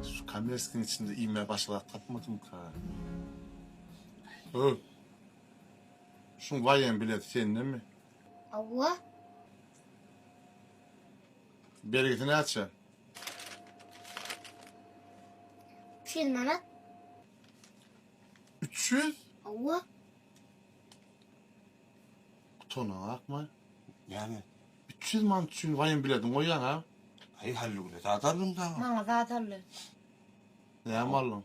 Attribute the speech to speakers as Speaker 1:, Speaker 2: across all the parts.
Speaker 1: Şu kamerskiň içinde iýmä başy bar tapmadymka. Höw. Şuň waýem bileti sendemi? Hawa. Bergisi näçe?
Speaker 2: Üç ýüz manat.
Speaker 1: Üç ýüz? Hawa. Utanaň akma. Näme?
Speaker 3: Üç ýüz manat
Speaker 1: üçin waýem biledin goýýaň a? Aý, Hallygüle
Speaker 3: zat aldyň dagy. Maňa zat
Speaker 2: aldy.
Speaker 1: Näme aldyň?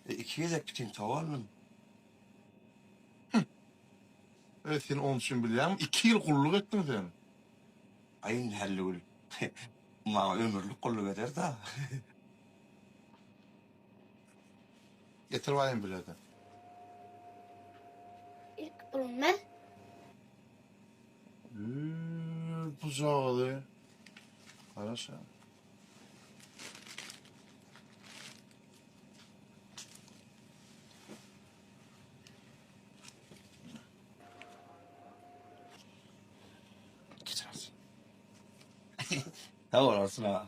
Speaker 1: E, iki gezek
Speaker 3: pitintow aldym.
Speaker 1: Hüh! Öz sen onuň üçin bilýäňmi? Iki ýyl gulluk etdiň sen. Aý,
Speaker 3: indi Hallygül, maňa ömürlik gulluk eder dagy.
Speaker 1: Getir baýyn bilerden.
Speaker 2: Ilki pulum ber. Üy,
Speaker 1: bu cagyzy. Garaşa. Geçiras.
Speaker 3: Sag bolarsyn aga.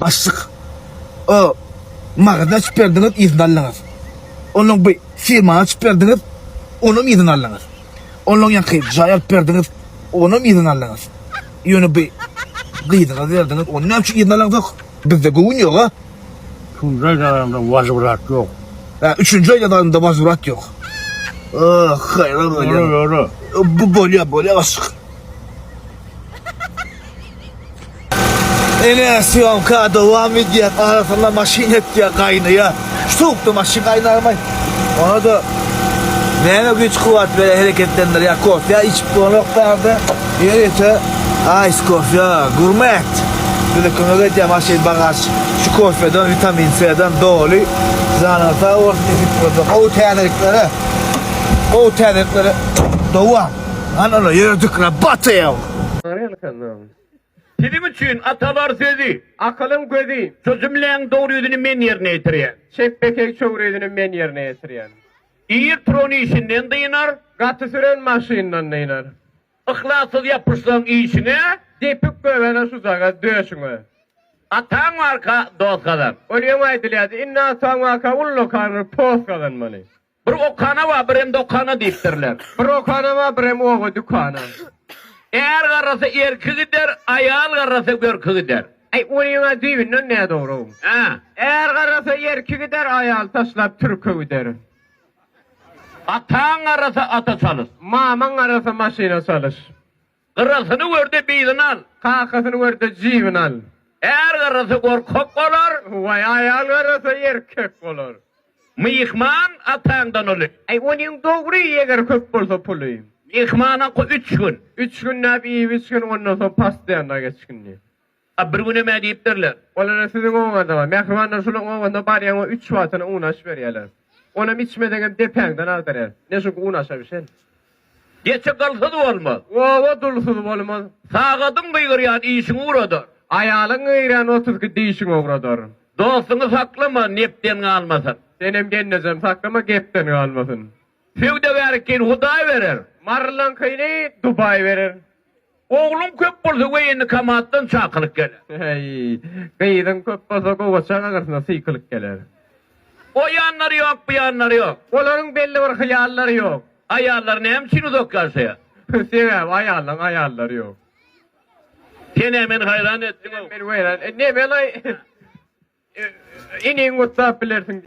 Speaker 4: Başlyk o magazy açyp berdiňiz yzyny aldyňyz. Onuň bu firmany açyp berdiňiz onam yzyny aldyňyz. Onuň ýanky jaý alyp berdiňiz onam yzyny aldyňyz. Ýöne bu gyzyňyzy berdiňiz ony näme üçin yzyny alaňzok? Bizde göwün ýoga. Üçünji aýda
Speaker 5: adamda wazwrat ýok. Hä üçünji aýda
Speaker 4: adamda wazwrat ýok. Oh haýran bolýan. Bu
Speaker 5: bolýa
Speaker 4: bolýa başlyk. Ene syýomka dowam edýär. Arasynda maşyn etýär, gaýnaýar. Şu sowukda maşyn gaýnarmy? Ona-da näme güýç-kuwwat berýär, hereketlendirýär? Kofýa içip bolanok bärde. Ýörite aýs kofýa, gurmet. Bize kömek edýär maşyn, bagaž. Şu kofýadan, witamin C-den doly. Janyňyz sag bolsun, işi üstünde. Gowy täzeliklere, gowy täzeliklere dowam. Hany ola ýördük, rabota ýa. Salam.
Speaker 6: Siziň üçin atalar sözi. Akylyň gözi. Şu jümläň dogry ýüzüni men ýerine ýetirýän. Çep bekeý çowry
Speaker 7: ýüzüni men ýerine ýetirýän. Ir turan
Speaker 6: işinden dynar. Gaty süren
Speaker 7: maşyndan dynar. Yhlassyz
Speaker 6: ýapyşsaň işiňe. Depip göbele
Speaker 7: şujagaz döşüňe. Ataň
Speaker 6: barka dost gazan. Ol ýöňe aýdylýardy.
Speaker 7: Indi ataň barka ullakandyr post gazanmaly. Bir okana
Speaker 6: bar, birem dokana diýipdirler. Bir okana bar,
Speaker 7: birem oba dükana. Är
Speaker 6: garrasa erki gider, aýal garrasa görki gider. Äý, onyň-a
Speaker 7: düýbünden nädogry-ow. Hä. Är
Speaker 6: garrasa
Speaker 7: erki gider, aýal taşlap türki gider. Ataň
Speaker 6: garrasa ata çalyş. Mamaň garrasa
Speaker 7: maşyna çalyş. Gyrasyny
Speaker 6: gör-de bizyny al. Kakasyny gör-de
Speaker 7: jybyny al. Är garasa
Speaker 6: gorkak bolar. Waý, aýal
Speaker 7: garasa erkek bolar. Myhman
Speaker 6: ataňdan uly. Aý, onuň dogry,
Speaker 7: eger köp bolsa puly. Myhmana
Speaker 6: üç gün. Üç günläp
Speaker 7: iýip-içgin, ondan soň pastaýanda geçgindi. A bir günem
Speaker 6: ä diýipdirler. Olara siziň
Speaker 7: obaňyzda-a, mähribanlar şolaryň obasynda barýaň we üç wagtyna un aş berýärler. Onam içmeseňem depäňden agdarýar. Ne çünki un aşa bişen. Geçi
Speaker 6: gylsyz bolmaz. Oba dulsuz
Speaker 7: bolmaz. Sagadyň gygyrýan
Speaker 6: işiň ugradar. Aýalyň gygyrýan
Speaker 7: otuzki dişiň ugradar. Dostuňy
Speaker 6: saklama, nepden galmasyn. Senem gelnejem
Speaker 7: saklama, gepden galmasyn. Söwdagärkiýni
Speaker 6: Hudaý berer. Marylaňkyny
Speaker 7: Dubaý berer. Ogluň
Speaker 6: köp bolsa woýennokomatdan çakylyk geler.
Speaker 7: Heý, gyzyň köp bolsa gowaça gaňrysyna sykylyk geler. O
Speaker 6: ýanlary ýok, bu ýanlary ýok. Olaryň belli bir
Speaker 7: hyýallary ýok. Aýallar näme üçin
Speaker 6: uzak ýaşaýar? Sebäbi
Speaker 7: aýallaň aýallary ýok.
Speaker 6: Sen-ä meni haýran etdiň-ow. Sen-ä meni
Speaker 7: weýran etdiň. Nemelay,
Speaker 6: iniňi
Speaker 7: gutlap bilersiň.